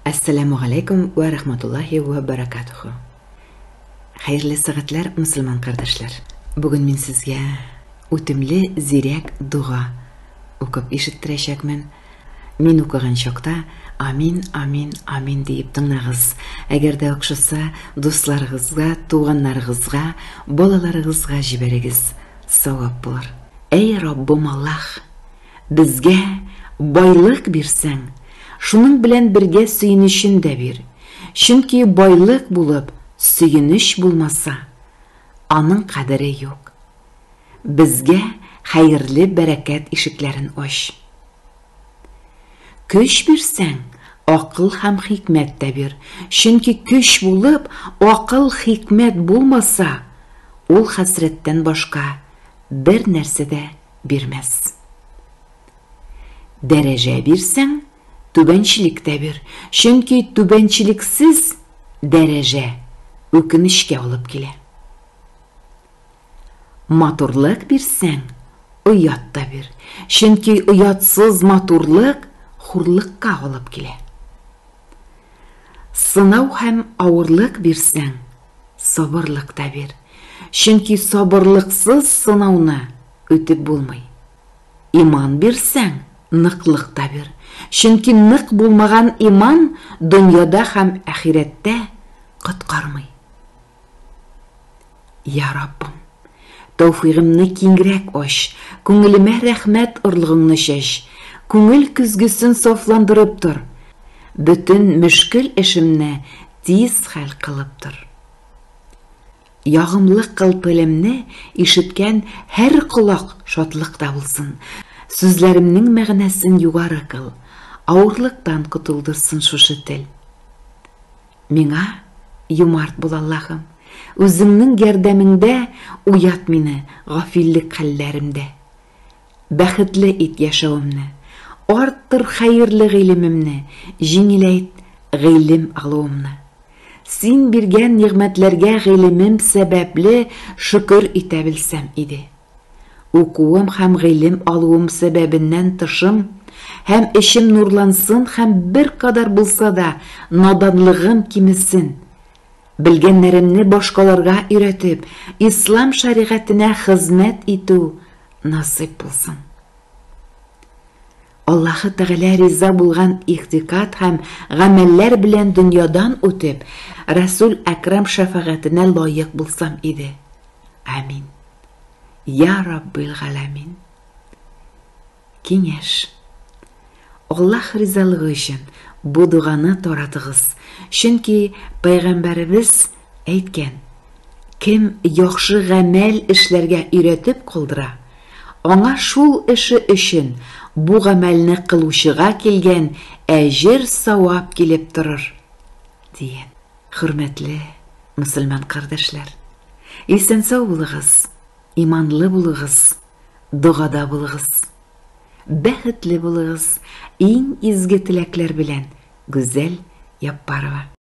Әссәләмү галәйкүм вә рахматуллаһи вә бәрәкатүһү! Хәерле сәгатьләр, мөселман кардәшләр! Бүген мин сезгә үтемле зирәк дога укып ишеттерәчәкмен. Мин укыган чакта Амин, Амин, Амин диеп тыңлагыз. Әгәр дә охшаса, дусларыгызга, туганнарыгызга, балаларыгызга җибәрегез, савап булыр. Әй Раббым Аллаһ! Безгә байлык бирсәң, шуның белән бергә сөенечен дә бир, чөнки байлык булып, сөенеч булмаса, аның кадере юк. Безгә хәерле бәрәкәт ишекләрен ач. Көч бирсәң, акыл һәм хикмәт тә бир, чөнки көч булып, акыл, хикмәт булмаса, ул хәсрәттән башка бер нәрсә дә бирмәс. Дәрәҗә бирсәң, түбәнчелек тә бир, чөнки түбәнчелексез дәрәҗә үкенечкә алып килә. Матурлык бирсәң, оят та бир, чөнки оятсыз матурлык хурлыкка алып килә. Сынау һәм авырлык бирсәң, Сабырлык та бир, чөнки сабырлыксыз сынауны үтеп булмый. Иман бирсәң, ныклык та бир, чөнки нык булмаган иман дөньяда һәм әхирәттә коткармый. Я Раббым, тәүфигымны киңрәк ач, күңелемә рәхмәт орлыгыңны чәч, күңел көзгесен сафландырып тор, бөтен мөшкел эшемне Тиз хәл кылып тор. Ягымлы кыл телемне ишеткән һәр колак шатлыкта булсын. Сүзләремнең мәгънәсен югары кыл, авырлыктан котылдырсын шушы тел. Миңа юмарт бул, Аллаһым, үзеңнең ярдәмеңдә уят мине гафиллек хәлләремдә. Бәхетле ит яшәвемне. Арттыр хәерле гыйлемемне, Җиңеләйт гыйлем алуымны. Син биргән нигъмәтләргә гыйлемем сәбәпле шөкер итә белсәм иде. Укуым һәм гыйлем алуым сәбәбеннән тышым һәм эчем нурлансын һәм беркадәр булса да наданлыгым кимесен, Белгәннәремне башкаларга өйрәтеп, Ислам шәригатенә хезмәт итү насыйп булсын. Аллаһы Тәгалә риза булган игътикад һәм гамәлләр белән дөньядан үтеп, Рәсүл Әкрам шәфәгатенә лаек булсам иде. Амин. Я Раббил Галәмин. Киңәш. Аллаһ ризалыгы өчен бу доганы таратыгыз, чөнки Пәйгамбәребез әйткән, Кем яхшы гамәл эшләргә өйрәтеп калдыра, аңа шул эше өчен бу гамәлне кылучыга килгән әҗер-савап килеп торыр, дигән. Хөрмәтле мөселман кардәшләр! Исән-сау булыгыз! Иманлы булыгыз, догада булыгыз. Бәхетле булыгыз, иң изге теләкләр белән, Гүзәл Яппарова.